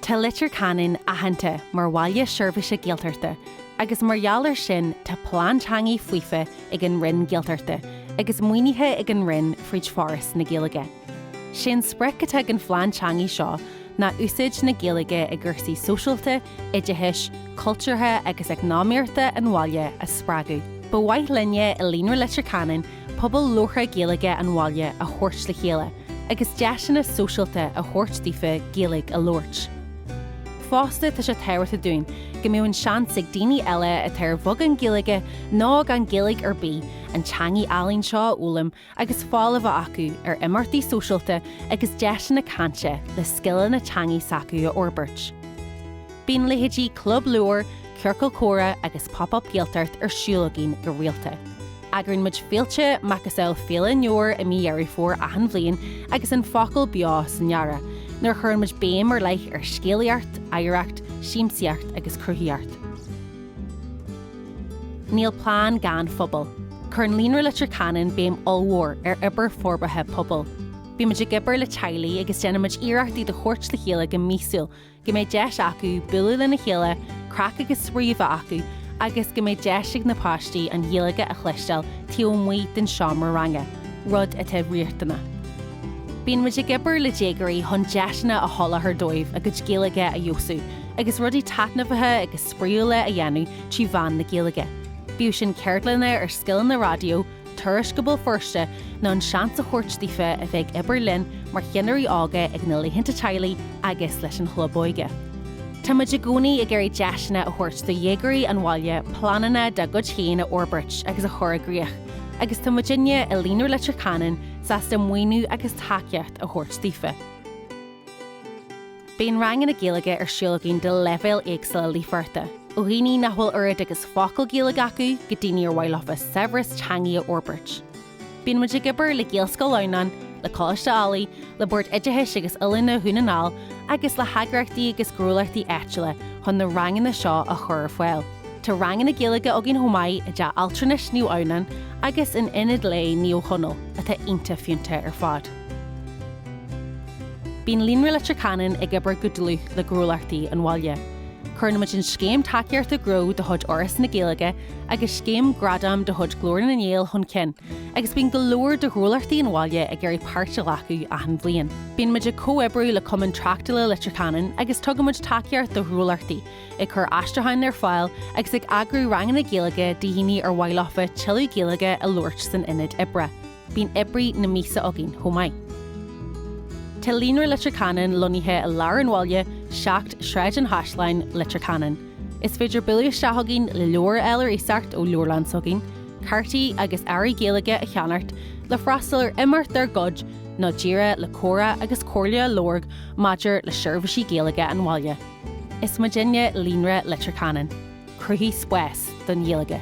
Tá Leitir Ceanainn aitheanta mar Bhaile Seirbhíse Gaeltachta agus mar gheall ar sin tá plean teangaidh faofa ag an Roinn Gaeltachta agus maoinithe ag an Roinn fríd Foras na Gaeilge. Sé an sprioc atá ag an phlean teangaidh seo ná úsáid na Gaeilge i gcúrsaí sóisialta, oideachais, cultúrtha agus eacnamaíochta an bhaile a spreagadh. Ba mhaith linne i Líonra Leitir Ceanainn pobal labhartha Gaeilge an bhaile a thabhairt le chéile agus deiseanna sóisialta a thabhairt daofa Gaeilge a labhairt. Fosta tá sé tábhachtach dúinn go mbeadh an seans ag daoine eile atá ar bheagán Gaeilge nó gan Gaeilge ar bith an teangaidh álainn seo a fhoghlaim agus fáil a bheith acu ar imeachtaí sóisialta agus deiseanna cainte le scileanna teangaidh s'acu a fhorbairt. Bíonn leithéidí Club Leabhar, Ciorcal Comhrá agus Pop-Up Gaeltacht ar siúl againn go rialta. Eagraíonn muid féilte macasamhail Féile an Leabhair i mí Dheireadh Fómhair achan bhliain agus An Focal Beo san earrach, nuair a chuireann muid béim ar leith ar scéalaíocht, oidhreacht, siamsaíocht agus cruthaíocht. Níl plean gan phobal. Cuireann Líonra Leitir Ceanainn béim ollmhór ar obair forbartha pobail. Bímid ag obair le teaghlaigh agus déanaimid iarracht iad a thabhairt le chéile go míosúil go mbeidh deis acu bualadh lena chéile, craic agus spraoi a bheith acu agus go mbeidh deis ag na páistí an Ghaeilge a chloisteáil taobh amuigh den seomra ranga, rud atá riachtanach. Bíonn muid ag obair le déagóirí chun deiseanna a sholáthar dóibh a gcuid Gaeilge a fheabhsú agus rudaí taitneamhacha agus spraíúla a dhéanamh trí mheán na Gaeilge, bíodh sin ceardlanna ar scileanna raidió, Turais go Béal Feirste nó an seans a thabhairt daofa a bheith ag obair linn mar cheannairí óga ag na laethanta teaghlaigh agus leis an Chlub Óige. Táimid i gcónaí ag iarraidh deiseanna a thabhairt do dhéagóirí an bhaile pleananna dá gcuid féin a fhorbairt agus a chur i gcrích agus tá muidinne i Líonra Leitir Ceanainn sásta maoiniú agus tacaíocht a thabhairt daofa. Bíonn ranganna Gaeilge ar siúl againn do leibhéil éagsúla líofachta, ó dhaoine nach bhfuil oiread agus focal Gaeilge acu go daoine ar mhaith leofa saibhreas teangaidh a fhorbairt. Bíonn muid ag obair le Gaelscoil Adhamhnáin, le Coláiste Ailigh, le Bord Oideachais agus Oiliúna Dhún na nGall agus le heagraíochtaí agus gnólachtaí áitiúla chun na ranganna seo a chur ar fáil. Tá ranganna Gaeilge againn chomh maith i dteach altranais Naomh Adhamhnáin agus in Ionad Lae Naomh Conall, atá iontach fiúntach ar fad. Bíonn Líonra Leitir Ceanainn ag obair go dlúth le gnólachtaí an bhaile. Cuireann muid an Scéim Tacaíochta Gnó de chuid Fhoras na Gaeilge agus Scéim Gradam de chuid Glór na nGael chun cinn agus bíonn go leor de ghnólachtaí an bhaile ag iarraidh páirt a ghlacadh achan bhliain. Bíonn muid ag comhoibriú le Cumann Tráchtála Leitir Ceanainn agus tugann muid tacaíocht do ghnólachtaí, ag cur aistriúcháin ar fáil agus ag eagrú ranganna Gaeilge do dhaoine ar mhaith leofa tuilleadh Gaeilge a labhairt san ionad oibre. Bíonn oibrí na míosa againn chomh maith. Tá Líonra Leitir Ceanainn lonnaithe i lár an bhaile, 7 Sráid an Chaisleáin, Leitir Ceanainn. Is féidir bualadh isteach chugainn le leabhair a fháil ar iasacht ó leabharlann s'againn, cártaí agus earraí Gaeilge a cheannacht, le freastal ar imeacht dár gcuid, nó díreach le comhrá agus comhairle a lorg maidir le seirbhísí Gaeilge an bhaile. Is muidinne Líonra Leitir Ceanainn. Cruthaigh spás don Ghaeilge.